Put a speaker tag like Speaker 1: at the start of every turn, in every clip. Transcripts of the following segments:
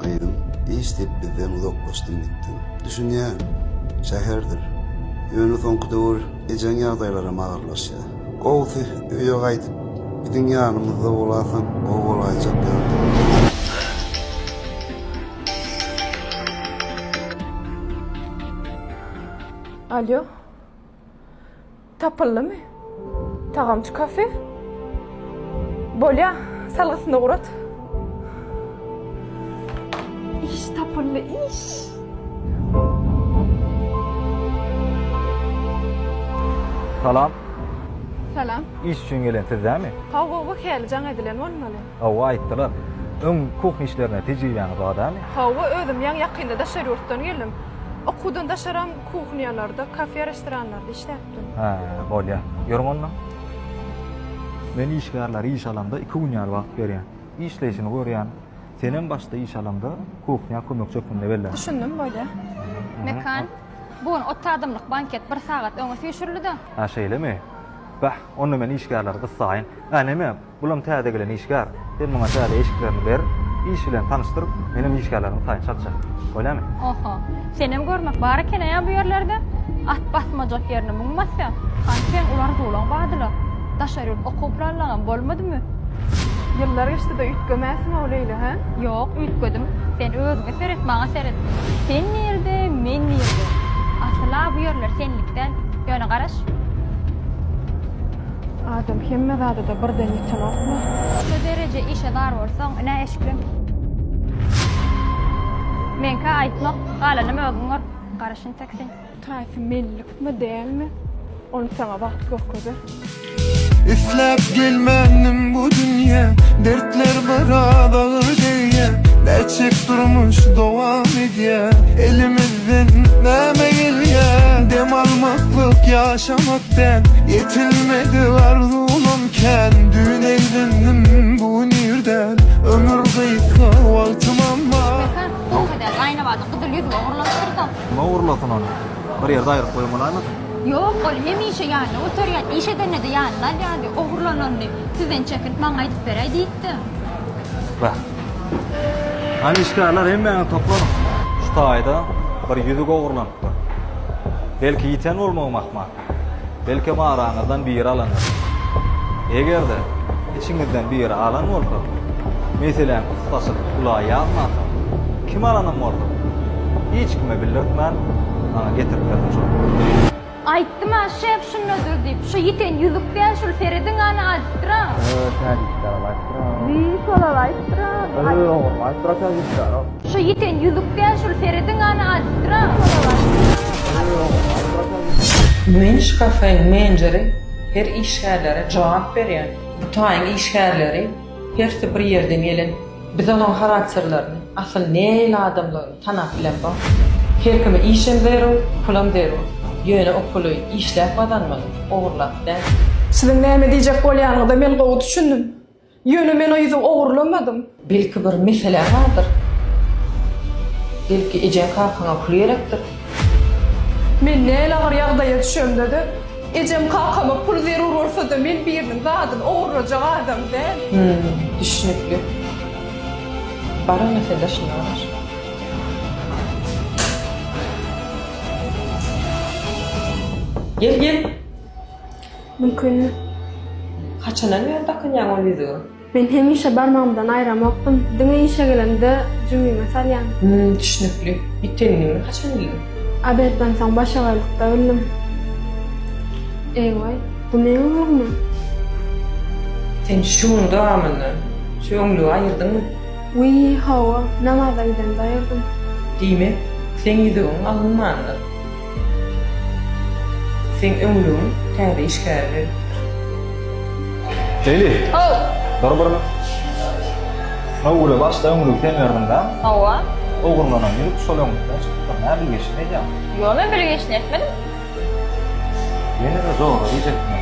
Speaker 1: Gyzym, iş diýip bizden uzaklaşdyň gitdiň. Düşünýän, şäherdir. Ýöne soňky döwür ejeň ýagdaýlaram agyrlaşýar. Gowusy, öýe gaýdyp, biziň ýanymyzda bolasaň gowy bolaýjak ýaly.
Speaker 2: Alýo. Tapyldymy tagamçy kafe? Bolýa, salgysyny ugrat. Iş tapyldy, iş!
Speaker 3: Salam.
Speaker 2: Salam. Iş üçin gelen
Speaker 3: siz dämi? Hawa, bu hälli jaň
Speaker 2: edilen bolmaly. Hawa, aýtdylar.
Speaker 3: Öň kuhn işlerine tejribäňiz bar dämi? Hawa, özüm ýaňy
Speaker 2: ýakynda daşary ýurtdan geldim. Okuwdan daşaram Kuhnýalarda, kafe-restoranlarda işläpdim. Hä, bolýar.
Speaker 3: Ýörüň onda. Men işgärlere iş alamda iki gün ýaly wagt berýän. Işleýşini görýän. Senem başda iş alamda kuhnýa kömekçi hökmünde bellän. Düşündim,
Speaker 2: bolýar. Mekan,
Speaker 4: Bu gün otuz adamlyk banket bir sagat öňe süýşürildi-de. Hä, şeýlemi?
Speaker 3: Bäh, onda men işgärleri gyssaýyn. Ä, näme, Bulam täze gelen işgär. Sen muňa täze eşiklerini ber, iş bilen tanyşdyr, menem işgärlerimiň taýyny çalyşaý. Bolýamy? Oho.
Speaker 4: Senem görmek bar ekeneýa bu ýerlerde. At basmajak ýerine muň basýa. Hany seň ular zolaň badyla. Daşary ýurt okuw planlaňam bolmadymy? Ýyllar
Speaker 2: geçdi-de üýtgemäsiň-ow Leýla, hä? Ýok, üýtgedim.
Speaker 4: Sen özüňe seret, maňa seret. Sen nirede, men nirede? Asyl-a bu ýerler senlik däl. Ýöne garaş.
Speaker 2: Adam hemme zadada birden ýetenokmy? Şu dereje
Speaker 4: işe zar bolsaň ine eşikleň. Meňkä aýtmak, galanam özüň gör. Garaşyn tek sen. Taýsy mellikmi,
Speaker 2: dälmi? Ony saňa wagt görkezer.
Speaker 5: Isläp gelmändim bu dünýä Dertler biraz agyr degýä Näçeek durmuş dowam edýä Elimiz. Sen näme gelýäň dem almaklyk ýaşamak däl Ýetilmedi arzuwym kän Düýn eýlendim bu gün ýerden Ömür gysga wagtym amma. Mekan soňky edýär gaýynabada gyzyl ýüzüme
Speaker 4: urlanypdyrsoň. Kime urlasyn ony?
Speaker 3: Bir ýerde aýryp goýup bolaýmasyn? Ýok, ol
Speaker 4: hemişe ýanyna göterýär. Iş edende-de ýanyna alýardy. Ogurlananyny sizden çekilip maňa aýdyp beräý diýipdim. Wah.
Speaker 3: Hany işgärler hemmäňiz toplanyň. Şu taýda bir ýüzük ogurlanypdyr. Belki ýiten bolmagym ahmal. Belkem araňyzdan biri alandyr. Eger-de içiňizden biri alan bolsa, meseläni pursatçylyk ula ýazmansoň, kim alanym bolsa, hiç kime bildirtmän maňa getirip bermeli. Aýtdym-a,
Speaker 4: şef şundadyr diýip. Şu ýiten ýüzük däl, şul serediň hany aýdypdyr-a. Öö, täjikçägem aýdypdyr-a. Wiý, şol-al aýdypdyr-a. Öö, oňam aýdypdyr-a täjikçägem. Şu ýiten ýüzük däl, şul serediň hany aýdypdyr-a. Wiý, şol-al aýdypdyr-a. Öö, oňam aýdypdyr-a
Speaker 6: täjikçägem. Men şu kafeň menjeri, her işgärlere jogap berýän. Bu taýyň işgärleri hersi bir ýerden gelen. Biz olaň harakterlerini, asyl nähili adamdygyny. Tanap bilemsoň, her kime işem zerur, pulam zerur. Ýöne o puly işläp gazanmaly, ogurlap däl. Siziň näme
Speaker 2: diýjek bolýanyňyza men gowy düşündim. Ýöne men o ýüzi ogurlamadym. Belki bir
Speaker 6: meseläň bardyr? Belki ejeň-kakaňa pul gerekdir?
Speaker 2: Men näl agyr ýagdaýa düşemde-de, ejem-kakama pul zerur bolsa-da men biriniň zadyny ogurlajak adam däl. Hüm, düşnükli.
Speaker 6: Bara mesele şunda garaş. Gel gel.
Speaker 2: Mümkin.
Speaker 6: Haçandan bäri dakynýaň ol ýüzügi? Men hemişe
Speaker 2: barmagymdan aýramokdym. Diňe işe gelemde jübime salýan. Hüm, düşnükli.
Speaker 6: Ýitenini haçan bildiň? Obedden soň
Speaker 2: başagaylykda bildim. Eý we. Bu meň oglummy?
Speaker 6: Sen şu gün dowamynda şu öňlügi aýyrdyňmy? Wiý,
Speaker 2: hawa, namaza gidende aýyrdym. Diýmek,
Speaker 6: seň ýüzügiň alynmandyr. Seň öňlügiň täze işgäre berlipdir.
Speaker 3: Leyli! How! Dur
Speaker 4: bir.
Speaker 3: Şunuň uly başda öňlügi sen berdiň dä? Hawa.
Speaker 4: Ogurlanan ýüzük
Speaker 3: şol öňlükden çykypdyr. Nä bilgeşin edýäň? Ýo, men bilgeşin
Speaker 4: etmedim.
Speaker 3: Ýene-de zorluk iýjekmi?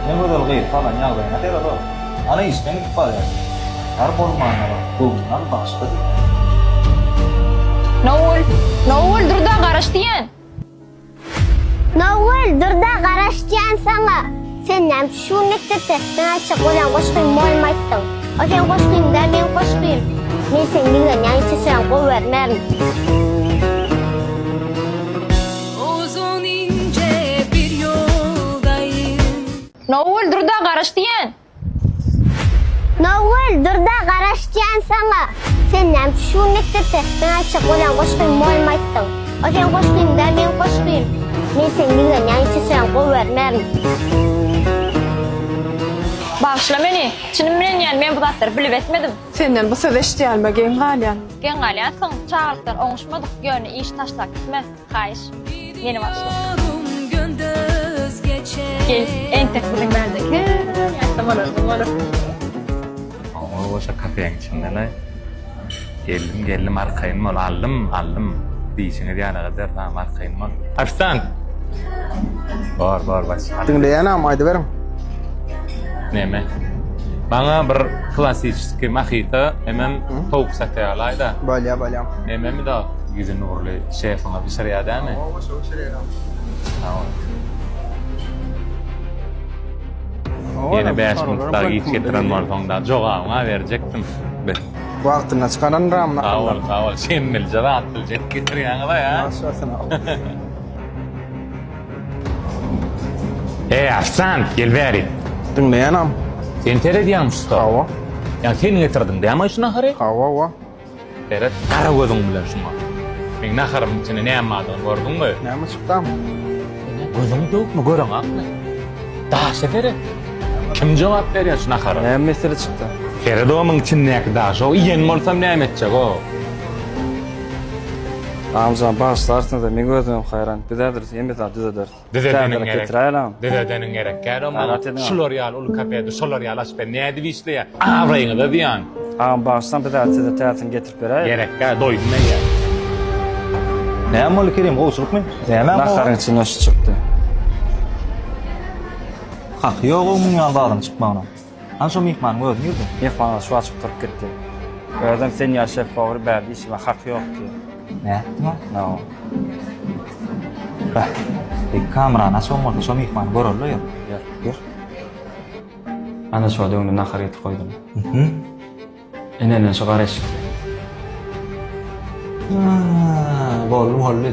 Speaker 3: Ne gözel gyz salan ýagdaýyna sered-ow. Ana işden gidip barýar. Tar bolmandyr, göwnüňal bagşy diýýär.
Speaker 4: Nowgül! Nowgül, dur-da, garaş diýýän! Nowgül,
Speaker 7: dur-da, garaş diýýän saňa! Sen näme üçin şu gün mekdepde Näçe gören goşgyň bolmaýtdyň? O seň goşgyň-da, meň goşgym. Men seni ýigrenýän içe süren gowy görmerin.
Speaker 4: Uzun ince bir yoldayım. Nowgül durda garaş diýen. Nowgül
Speaker 7: durda garaş diýen saňa. Sen näme üçin şu gün mekdepde men aýtjak bolýan goşgymy moýlyma aýtdyň. O seň goşgyň däl meň goşgym. Men seni ýigrenýän içirseň gowybermerin.
Speaker 4: Bagyşla meni. Çynym bilen diýen men bu zatlary bilip etmedim. Senden bu sözi
Speaker 2: eşidýänime geň galýan. Geň galýansyň.
Speaker 4: Çagalykdan oňuşmadyk, ýöne işi taşlap gitme. Haýyş. Meni
Speaker 8: bagyşla. Gel, entek biziň bärdeki. Ýatsa bolardy, bolar. Oňa goşa kafeň içindele. Geldim, geldim, arkaýyn bol, aldym, aldym. Diýşiňiz ýaly gyzlar, tamam, arkaýyn bol. Arslan! Bor, bor, baş. Diňleýänem, aýdyberiň. Näme? Maňa bir klassyçyski mahita, hemem towuk sataýalaý-da. Bolýa, bolýa. Näme
Speaker 9: mi da?
Speaker 8: Ýüzi nurly şefiňiz bişirýär dämi? Oba şo bişirýär agam. Sag bol. Ýene bäş minut dagy giç getiren bolsaň dagy jogabyňa berjekdim. Be. Wagtynda
Speaker 9: çykaran ram nakallar. Sag bol sag bol şemmelije
Speaker 8: zat biljek getirýäňiz a ýa. Ýaş bolsun agam. Eý Arslan gel bäri. Diňleýänem.
Speaker 9: Sen
Speaker 8: seredýäňmi şu stol? Hawa. Ýa
Speaker 9: sen getirdiň
Speaker 8: dämi şu nahary? Hawa wa.
Speaker 9: Seret
Speaker 8: gara gözüň bilen şuňa. Meň naharymyň içinde näme bardygyny gördüňmi? Näme çykdam?
Speaker 9: Seniň gözüň
Speaker 8: döwükmi, göreň akmy? Daşa seret. Kim jogap berýär şu nahara? Näme mesele çykda?
Speaker 9: Seret o muň içindäki
Speaker 8: daşa. Iýen bolsam näme etjek-ow?
Speaker 9: Amjan, bagyşlarsyňyz-a, meň özümem haýran. Biz häzir hemme zady düzederis. Düzedeniň gerek.
Speaker 8: Düzedeniň
Speaker 9: gerek. Gel
Speaker 8: ondan. Şular ýaly uly kapedi, şolar ýaly açyp ber. Nädip işleýä? Abraýyňyza zyýan. Agam bagyşlaň biz
Speaker 9: hät size täsin getirip beräýeli. Gerek gä doýdum
Speaker 3: men ýa. Näme boldy Kerim gowçulykmy? Näme bu? Naharyň içinden şu
Speaker 9: çykdy.
Speaker 3: Haky ýok ow muň ýaly zadyň çykmagyna. Hany şo myhmanyň özi nirde? Myhman ol şu wagt çykyp turup
Speaker 9: gitdi. Özem sen ýaly şef powar bärde işime haky ýok ki. Nätdiňä?
Speaker 3: Noo. Beh, beýik kamerany açyň bolsa şo myhmany göreli-le ýör. Ýör. Ýör.
Speaker 9: Ana şo-da öňde nahar getirip goýdum. Hü-hü.
Speaker 3: Ene
Speaker 9: men şu gara eşikli. Haa,
Speaker 3: boldy boldy.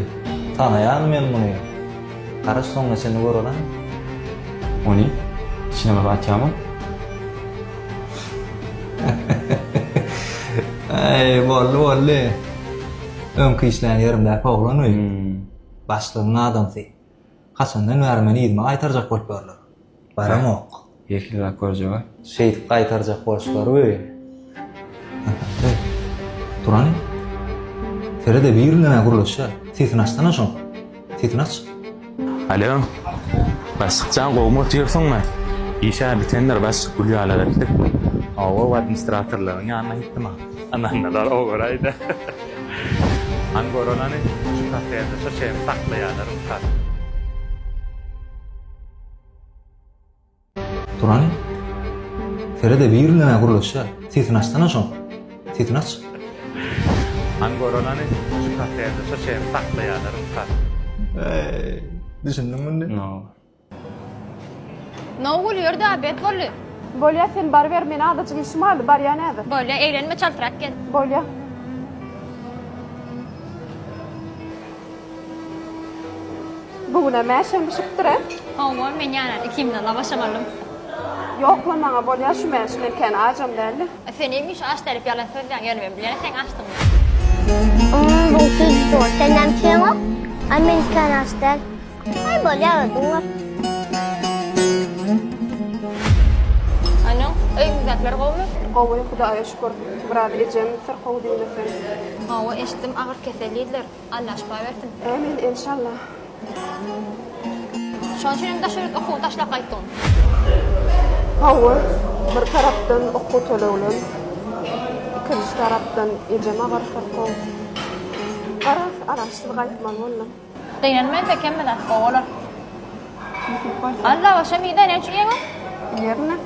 Speaker 3: Tanaýan men muny. Gara soňuna çenli göreliň.
Speaker 9: Ony içine bir atýamy?
Speaker 3: Aý, boldy boldy. Öňki işlän ýerimdäki oglan we. Başlygyň adamsy. Haçandan bäri meni yzyma gaýtarjak bolup ýörler. Baramok. Ýeke zat
Speaker 9: görjeg-ä. Şeýdip gaýtarjak
Speaker 3: bolşular we Ahaý. Turan. Sere-de birinden-ä gürleşýär. Sesini açsana şoň. Sesini aç. Alo.
Speaker 8: Başlyk jan gowumy otyrsyňmy? Iş-ä bitendir başlyk gül ýaly gitdik. Hawa we administratorlaryň ýanyna gitdim-ä. Anandalar owaray-da. Hany göranany şu kafede şu çeýe saklaýalar ussat.
Speaker 3: Turan Feride bir ýüline gürleşýä sesini açsana şoň sesini aç. Hany
Speaker 8: göranany şu kafede şu çeýe saklaýalar ussat. Eý düşündiňmi
Speaker 3: indi?
Speaker 4: Nowgül ýör-dä, bet boldy. Bolýa, sen baryber,
Speaker 2: men azajyk işim bardy, barýan häzir. Bolýa, eglenme, çaltrak
Speaker 4: gel. Bolýa.
Speaker 2: Bu günem mäşem bişipdir-ä? Hawa, men
Speaker 4: ýanan ikimiz-de lawasam aldym. Ýok-la,
Speaker 2: maňa bolýa şu mäş, men kän ajam däldi. A sen hemişe aç
Speaker 4: dälip ýalan sözlän, ýöne men bilýän seň açdygyňy. Ym,
Speaker 7: bu hil zor, sendämi kemok? A men kän aç däl. Ay bolya
Speaker 4: özün var. Anam, öýüňizdekiler gowmy? Gowy, Hudaýa
Speaker 2: şükür. Biraz ejem syrkaw diýmeseň. Hawa, eşitdim
Speaker 4: agyr kesellidiler. Allah şypa bersin. Ämin, enşalla. Şoň üçin hem daş ýurt okuwy taşlap gaýtdyň?
Speaker 2: Hawa, bir tarapdan okuw tölegleň, ikinji tarapdan ejem agyr syrkaw. Garaz, araçsyz gaýtmaly boldum. Gynanman çekenmi
Speaker 4: zat gowy olar. Nesip bolsa. Alla başa mide ne üçin ýeňiň? Ýerine.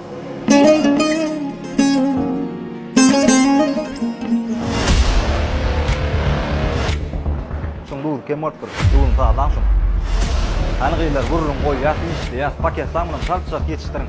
Speaker 3: Şuň duzy kem bolupdyr. Duzuny sazlaň şuň. Hany gyzlar gürrüň goýýas işleýäs. Paketlaň bilen çalt çalt ýetişdiriň.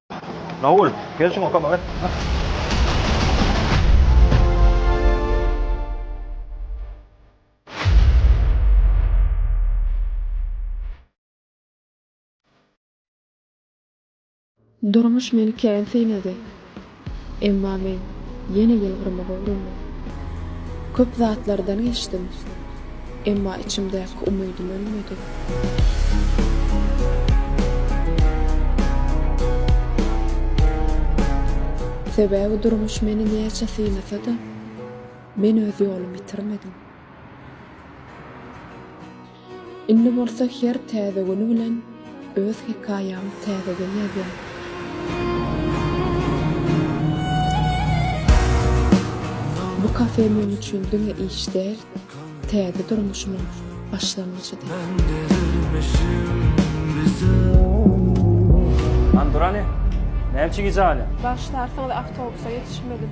Speaker 3: Naul, gel şuňa kömek et.
Speaker 10: Durmuş meni kän synady. Emma men ýene ýylgyrmagy öwrendim. Köp zatlardan geçdim. Emma içimdäki umydym ölmedi. Sebäbi durmuş meni näçe synasa-da, men öz ýolumy ýitirmedim. Indi bolsa her täze güni bilen Öz hekaýamy täzeden ýazýan. Bu kafe men üçin diňe iş däl, täze durmuşymyň başlangyjydy.
Speaker 9: Anturany, näme üçin gijä galýaň? Bagyşlarsyňyz
Speaker 2: awtobusa ýetişmedim.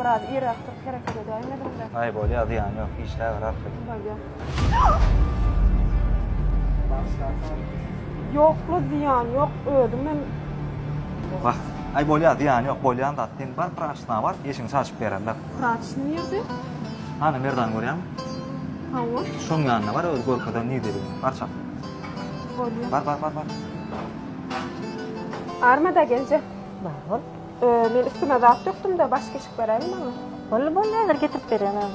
Speaker 2: Biraz irrak turup hereket edäýmediňdä. Aý bolýa zyýany ýok
Speaker 3: işläberarsyz. Bolýa.
Speaker 2: Ýokla zyýany ýok özüm men.
Speaker 3: Wah aý bolýa zyýany ýok bolýan zat sen bar praçysyna bar eşigiňi çalşyp bererler. Praçysy nirde?
Speaker 2: Hany Merdany
Speaker 3: görýäňmi? Hawa.
Speaker 2: Şoň ýanyna bar
Speaker 3: özi görkezer nirdedigini bar çal. Bolýa.
Speaker 2: Bar bar bar bar. Armada geljek. Bar bol.
Speaker 11: Men üstüme
Speaker 2: zat dökdüm-de, baş keşik beräýiň maňa. Boldy, boldy, häzir
Speaker 11: getirip berýän agam.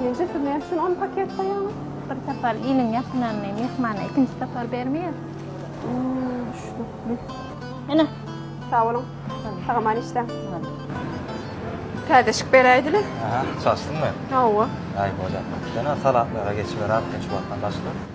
Speaker 2: Nji siz näme üçin on paket goýaňyz? Bir sapar
Speaker 11: iliň ýakynany myhmana ikinji sapar bermeýär. Düşnükli. Ene. Sag boluň.
Speaker 2: Sag-aman işläň. Täzeşik beräýdili. Aha, çaşdym
Speaker 3: men. Hawa. Aý,
Speaker 2: bolýar.
Speaker 3: Ýöne salatlara geçiberäp, hiç wagtdan başga.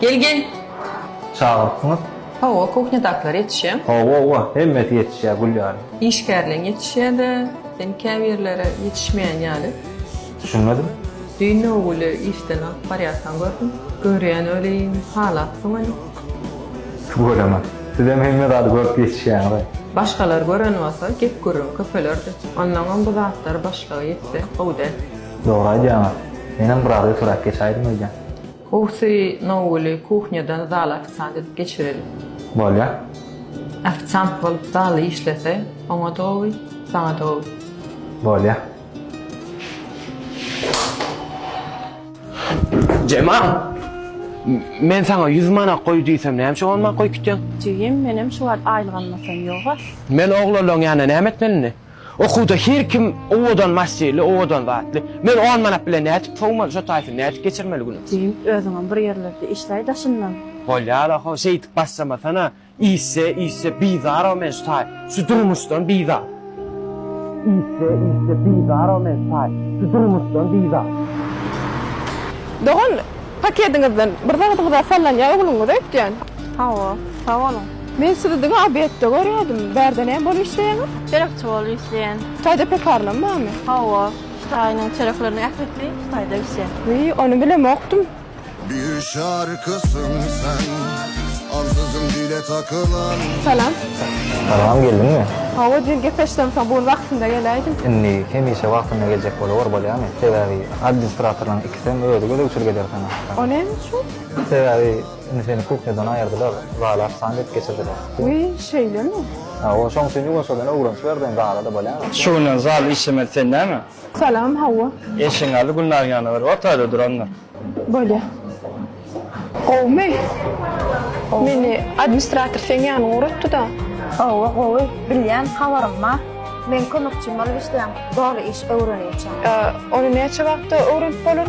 Speaker 6: Gel gel.
Speaker 3: Çagyrypsyňyz? Hawa,
Speaker 6: kuhnýadakylar ýetişýär. Hawa, hawa, hemmesi
Speaker 3: ýetişýär gül ýaly. Işgärleň ýetişýär-de,
Speaker 6: sen käbirleri ýetişmeýän ýaly. Düşünmedim?
Speaker 3: Düýn
Speaker 6: Nowguly işden alyp barýarkaň gördüm. Görýän welin, halapsyň ony.
Speaker 3: Tüweleme. Sizem hemme zady görüp ýetişýäňiz-aý. Başgalar gören
Speaker 6: bolsa, gep-gürrüň köpelerdi. Onnoňam bu zatlary başlyga ýetse, gowy däl. Dogry aýdýaňyz.
Speaker 3: Menem biraz ötüräk geçäýdim öýden. Howsy,
Speaker 6: Nouli kuhnýadan zala ofisant edip geçireli. Bolýa.
Speaker 3: Ofisant
Speaker 6: bolup zalda işlese, oňa-da gowy, saňa-da gowy. Bolýa.
Speaker 12: Jemal! Men saňa ýüz manat goý diýsem, näme üçin on manat goýup gitýäň? Jigim, menem şu
Speaker 11: wagt aýlyk almasam ýog-a. Men oglalaň
Speaker 12: ýanyna näme etmelini? Okuwda her kim owadan masterli, owadan zatly. Men on manat bilen nädip sowmaly, şo taýsyny nädip geçirmeli günümi? Jigim, özüňem bir
Speaker 11: ýerlerde işläý daşyndan. Bolýar-a, ho,
Speaker 12: şeýdip başlamasana. Işse, işse bizar-a men şu taý, şu durmuşdan bizar. Işse, işse bizar-a men şu taý, şu durmuşdan bizar.
Speaker 2: Dogan, pakediňizden bir zadyňyz-a sallanýar ogluňyza öýtýän. Hawa,
Speaker 11: sag boluň. Men sizi diňe
Speaker 2: obýektde görýädim. Bärde näme bolup işleýäňiz? Çörekçi bolup işleýän.
Speaker 11: Hytaýda pekarnam
Speaker 2: barmy? Hawa,
Speaker 11: Hytaýyň çörekleriniň ählisi Hytaýda bişýär. Wiý, ony bilemokdym.
Speaker 5: Bişarkysyň sen, ansyzyň dile takylan. Salam.
Speaker 2: Salam,
Speaker 3: geldiňmi? Hawa, diýen gepleşsem
Speaker 2: soň bu gün wagtynda geläýdim. Indi hemişe
Speaker 3: wagtynda geljek bolawor bolýamy? Sebäbi adminstratorlaryň ikisem özi gözegçilik eder
Speaker 2: saňa.
Speaker 3: O näme üçin?
Speaker 2: Sebäbi
Speaker 3: Indi seni kuhnýadan aýyrdylar, zala apsan edip geçirdiler. Wiý, şeýlemi?
Speaker 2: Hawa, şoň üçin
Speaker 3: ýuwaşjadan öwrenç berdiň, zala-da bolýaňok. Şu günden zal
Speaker 9: işlemez, sen näme? Salam, hawa.
Speaker 2: Eşigiň aldy Gülnaryň
Speaker 9: ýanyna bir ortaýda durandyr. Bolýar.
Speaker 2: Gowumy? Meni administrator seň ýanyňa ugratdy-da. Hawa, gowy.
Speaker 11: Bilýän, habarym bar. Meň kömekçim bolup işleýäň, doly iş öwrenýärçäň. Ony näçe
Speaker 2: wagtda öwrenip bolar?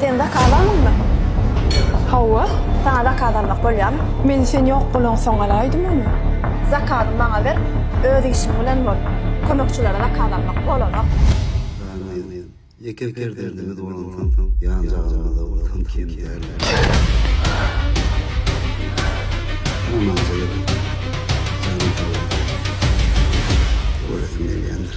Speaker 11: Sen zakaz aldyňmy?
Speaker 2: Hawa. Saňa zakaz
Speaker 11: almak bolýarmy? Men sen ýok
Speaker 2: bolaňsoň alaýdym ony. Zakazy maňa
Speaker 11: ber, öz işiň bilen bol. Kömekçilere zakaz almak bolanok. Ganyýew, ýeke
Speaker 1: perzendiňiz bolansoň ýanjagazymyzda bolsam kem däldir. Namazda ýok. Janyň sag bolsun. Göresiň gelýändir.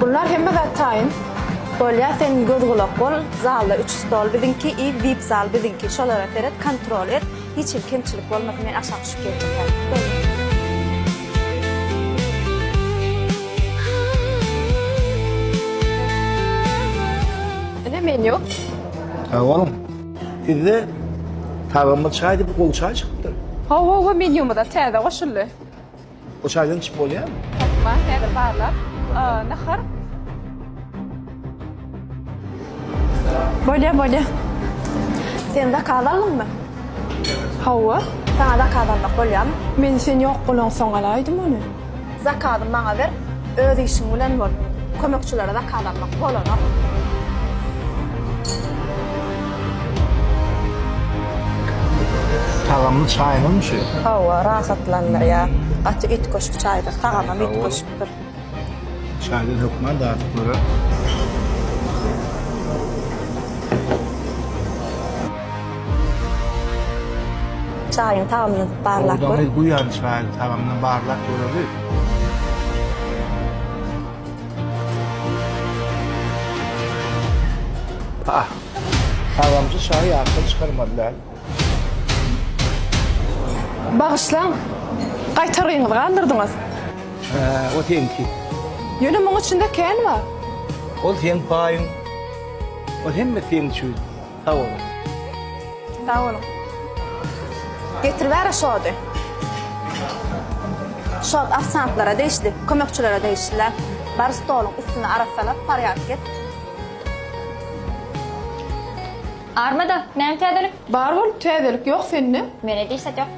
Speaker 2: Bunlar hemme zat taýyn. Bolýa sen
Speaker 11: göz gulak bol, zalda üç stol biziňki i vip zal biziňki şolara seret kontrol et hiç hil kemçilik bolmasyn men aşak düşüp geldim hezir.
Speaker 2: Ine men ýok. Sag
Speaker 13: boluň. Sizde tagamly çaý diýip gowy çaý çykypdyr. Hawa hawa menýumyza
Speaker 2: täze goşuldy. Bu
Speaker 13: çaýdan içip bolýarmy? Tapma häzir barlap.
Speaker 2: Nahar. Bolýa bolýa.
Speaker 11: Sen zakaz aldyňmy?
Speaker 2: Hawa. Saňa zakaz
Speaker 11: almak bolýamy? Men sen ýok
Speaker 2: bolaňsoň alaýdym ony. Zakazy maňa
Speaker 11: ber. Öz işiň bilen bol. Kömekçilere zakaz almak bolanok.
Speaker 13: Tagamly çaýňyzmy şu? Hawa, rahatlandyrýar.
Speaker 11: Gaty üýtgeşik çaýdyr, tagamam üýtgeşikdir.
Speaker 13: Çaýdan hökman dadyp görä.
Speaker 11: Çaýyň tagamyny barlap gör. Sowdaňy guýan çaýyň
Speaker 13: tagamyny barlap göreli. Pah! Tagamçy çaýy ýatdan çykarmaly däl.
Speaker 2: Bagyşlaň, gaýtargyňyzy galdyrdyňyz. Hä,
Speaker 13: o seňki. Ýöne muň
Speaker 2: içinde kän bar. Ol seň
Speaker 13: paýyň. Ol hemme seň üçin. Sag boluň.
Speaker 11: Sag boluň. Getiribera şody. Şod ofisiantlara degişli, kömekçilere degişli. Bar stoluň üstüni arassalap porýadk et.
Speaker 4: Armada, näme täzelik? Bar bolup täzelik
Speaker 2: ýok sende? Mende diş zat ýok.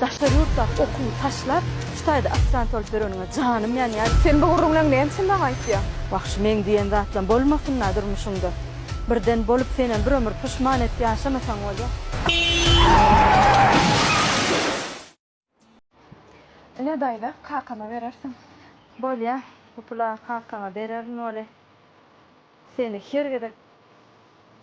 Speaker 11: Daşary ýurtdaky okuwy taşlap, şu taýda aspirant bolup ýöreniňe janym ýanýar. Sen bu gürrüňleň
Speaker 2: näme üçin maňa aýtýaň? Wagşy meň diýen
Speaker 11: zatlam bolmasyn-a durmuşyňda. Birden bolup senem bir ömür puşman et ýaşamasaň bolýa.
Speaker 2: Ine daýza, kakama berersiň. Bolýa,
Speaker 11: bu pul-a kakaňa bererin weli, seni her gezek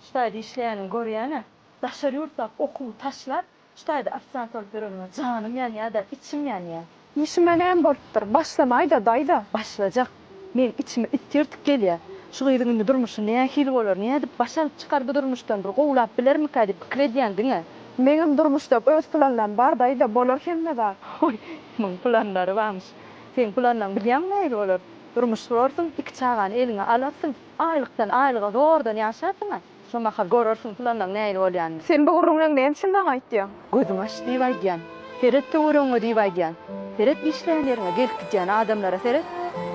Speaker 11: şu taýda işleýänini görýän-ä. Daşary ýurtdaky okuwy taşlap, Şu taýda ofisiant bolup ýörenime janym ýanýa-da, içim ýanýa. Işime näme
Speaker 2: bolupdyr?
Speaker 11: Başlamaý-da, daýza.
Speaker 2: Başlajak. Meň içime
Speaker 11: it
Speaker 2: tirtik gelýä.
Speaker 11: Şu gyzyň indi durmuşy nähili bolar? Nädip baş alyp çykar bu durmuşdan? Bir gowlap bilermikä diýip pikir edýän diňe. Meňem durmuşda
Speaker 2: öz planlarym bar, daýza. Bolar hemme zat. Hoý, muň
Speaker 11: planlary barmyş. Seň planlaň bilýäňmi nähili bolar? Durmuş gurarsyň, iki çagany eliňe alarsyň. Aýlykdan aýlyga zordan ýaşarsyň-a. Şomahal görersiň pylanyň nähili bolýanyny. Sen bu gürrüň bilen näme
Speaker 2: üçin maňa aýtýaň? Gözüňi aç diýip
Speaker 11: aýdýan. Seret töweregiňe diýip aýdýan. Seret işlän ýeriňe, gelip gidýän adamlara seret.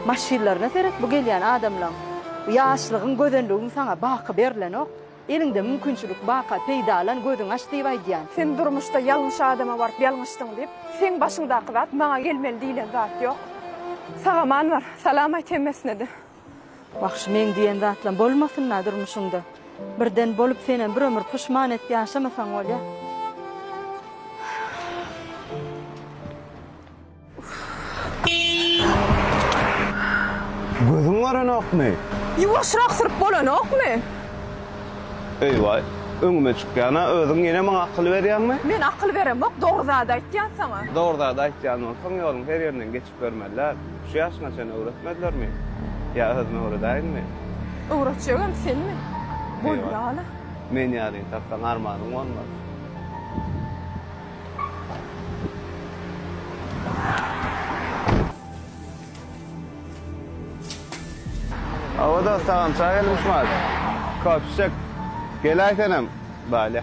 Speaker 11: Maşynlaryna seret bu gelýän adamlaň. Bu ýaşlygyň, gözelligiň saňa baky berlenok. Eliňde mümkinçilik baka peýdalan gözüňi aç diýip aýdýan. Sen durmuşda ýalňyş
Speaker 2: adama baryp ýalňyşdyň diýip, seň başyňdaky zat maňa gelmeli diýlen zat ýok. Sagaman bar, salam aýt hemmesine-de. Wahşy
Speaker 11: meň diýen zatlam bolmasynda durmuşyňda. Birden bolup senem bir ömür puşman et ýaşamasaň bolýa.
Speaker 12: Gözüň görenokmy? Ýuwaşrak
Speaker 2: syryp bolanokmy?
Speaker 12: Eýwaý, öňüme çykýana özüň ýene maňa akyl berýäňmi? Men akyl beremok,
Speaker 2: dogry zady aýtýan saňa. Dogry zady aýtýan
Speaker 12: bolsaň ýoluň her ýerinden geç. Görmediler. Şu ýaşyňa çenli öwretmedilermi? Ýa özüm öwredäýinmi? Öwretjegem
Speaker 2: senmi? Bol ýaly. Men ýalyny
Speaker 12: tapsaň armanyň bolmaz. Hawa dost, sagam çaý gelmişmad. Köp içjek. Gelaý senem. Bale.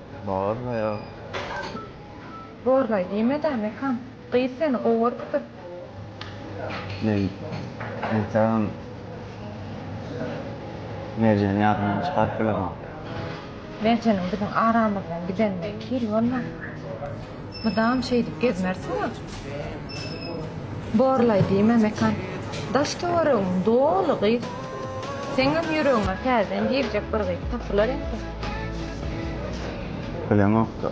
Speaker 12: Bornaýa. Bornaý
Speaker 10: diýme-dä, Mekan. Gyz seni gowy görüpdir. Men
Speaker 12: entegem Merjeni ýadymdan çykaryp bilemok. Merjeniň
Speaker 10: biziň aramyzdan gidenine iki ýyl bolmapdyr. Mydam şeýdip gezmersiňa. Borlaý diýme Mekan. Daş-töweregiň doly gyz. Seňňem ýüregiňe täzeden girjek bir gyz tapylar indi. Bileňok-da.